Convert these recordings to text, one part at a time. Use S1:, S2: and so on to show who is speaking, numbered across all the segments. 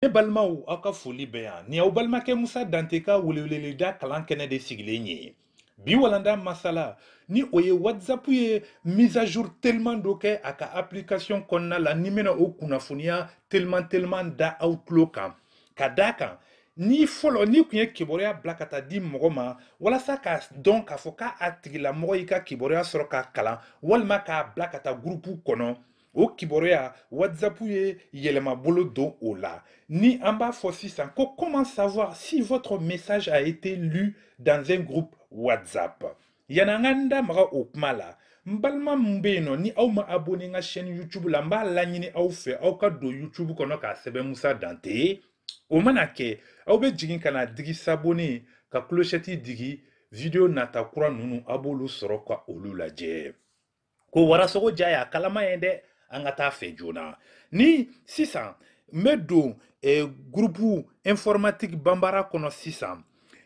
S1: ne balimaw aw ka foli bɛ yan nin y'aw balimakɛ musa dante ka weleweleda kalan kɛnɛ de sigilen ye bi walanda masala ni o ye whatsapp ye mise à jour teliman dɔ kɛ a ka application kɔnɔna la ne bɛna o kunnafoniya teliman teliman da aw tulo kan ka d'a kan ni fɔlɔ n'i kun ye kibaruya bila ka taa di mɔgɔ ma walasa k'a dɔn k'a fɔ k'a tigilamɔgɔ y'i ka kibaruya sɔrɔ k'a kalan walima k'a bila ka taa gurupu kɔnɔ o kibaruya whatsapp ye yɛlɛma bolo don o la ni an b'a fɔ sisan ko comment savoir si votre message a été lu dans un groupe whatsapp yanni an ka n da maga o kuma la n balima min bɛ yen nɔ ni aw ma abonné n ka chaîne youtube la n b'a laɲini aw fɛ aw ka don youtube kɔnɔ k'a sɛbɛn musa dante o mana kɛ aw bɛ jigin ka na digi s'abonner ka clochette digi video nata kura ninnu a b'olu sɔrɔ ka olu lajɛ ko warasogo ja y'a kalama ye dɛ an ka t'a fɛ joona ni sisan n bɛ don eh, gurupu informatique bambara kɔnɔ sisan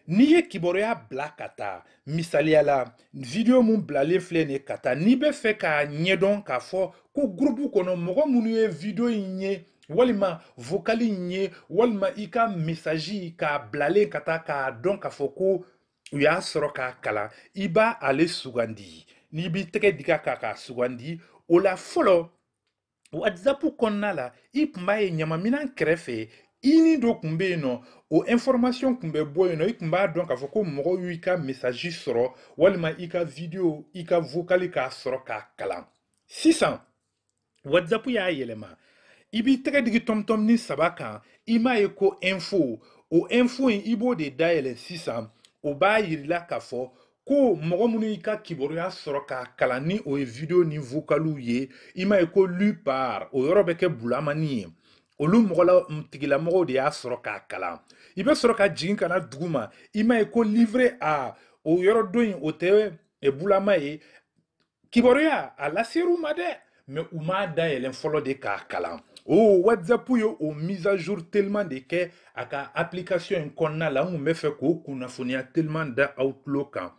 S1: n'i ye kibaruya bila ka taa misaliya la vidiyo min bilalen filɛ nin ye ka taa n'i b'a fɛ k'a ɲɛdɔn k'a fɔ ko gurupu kɔnɔ mɔgɔ minnu ye vidiyo in ye walima vokali in ye walima i ka mesaji k'a bilalen ka taa k'a dɔn k'a fɔ ko u y'a sɔrɔ k'a kalan i b'ale sugandi n'i b'i tɛgɛ dig'a kan k'a sugandi o la fɔlɔ whatsapp kɔnɔna la i kun b'a ye ɲamaminan kɛrɛfɛ ini dɔ kun bɛ yen nɔ o information kun bɛ bɔ yen nɔ i kun b'a dɔn k'a fɔ ko mɔgɔw y'i ka message sɔrɔ walima i ka video i ka vocal k'a sɔrɔ k'a kalan sisan whatsapp y'a yɛlɛma i b'i tɛgɛ digi tɔmtɔmni saba kan i m'a ye ko info o info in i b'o de dayɛlɛ sisan o b'a yir'i la k'a fɔ ko mɔgɔ minnu y'i ka kibaruya sɔrɔ k'a kalan ni o ye video ni vocaliw ye i m'a ye ko lu par o yɔrɔ bɛ kɛ bulamani ye olu mɔgɔla tigilamɔgɔw de y'a sɔrɔ k'a kalan i bɛ sɔrɔ ka jigin ka na duguma i m'a ye ko livré à o yɔrɔ don in o tɛ bulama ye kibaruya a laser'u ma dɛ mais u m'a dayɛlɛn fɔlɔ de k'a kalan o oh, whatsapp ye o mise à jour teliman de kɛ a ka application in kɔnɔna la n kun bɛ fɛ k'o kunnafoniya teliman da aw tulo kan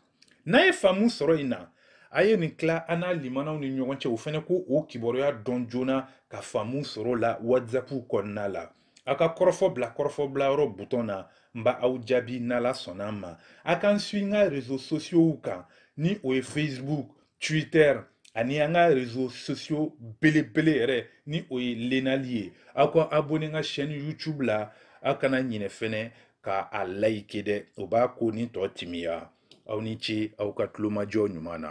S1: n'a ye faamu sɔrɔ in na a ye nin tila aw n'aw limanaw ni ɲɔgɔn cɛ o fana ka o kibaruya dɔn joona ka faamu sɔrɔ la whatsapp kɔnɔna la aw ka kɔrɔfɔ bila kɔrɔfɔ bilayɔrɔ butɔn na n ba aw jaabi n'ala sɔnna ma a ka n suivi n ka rezo sosiyow kan ni o ye facebook twitter ani an ka rezo sosiyo belebele yɛrɛ ni o ye lenali ye aw ka abone n ka chaîne youtube la aw kana ɲinɛ fɛnɛ ka a layike dɛ o b'a ko ni tɔ timiya aw ni ce aw ka tulomajɔ ɲuman na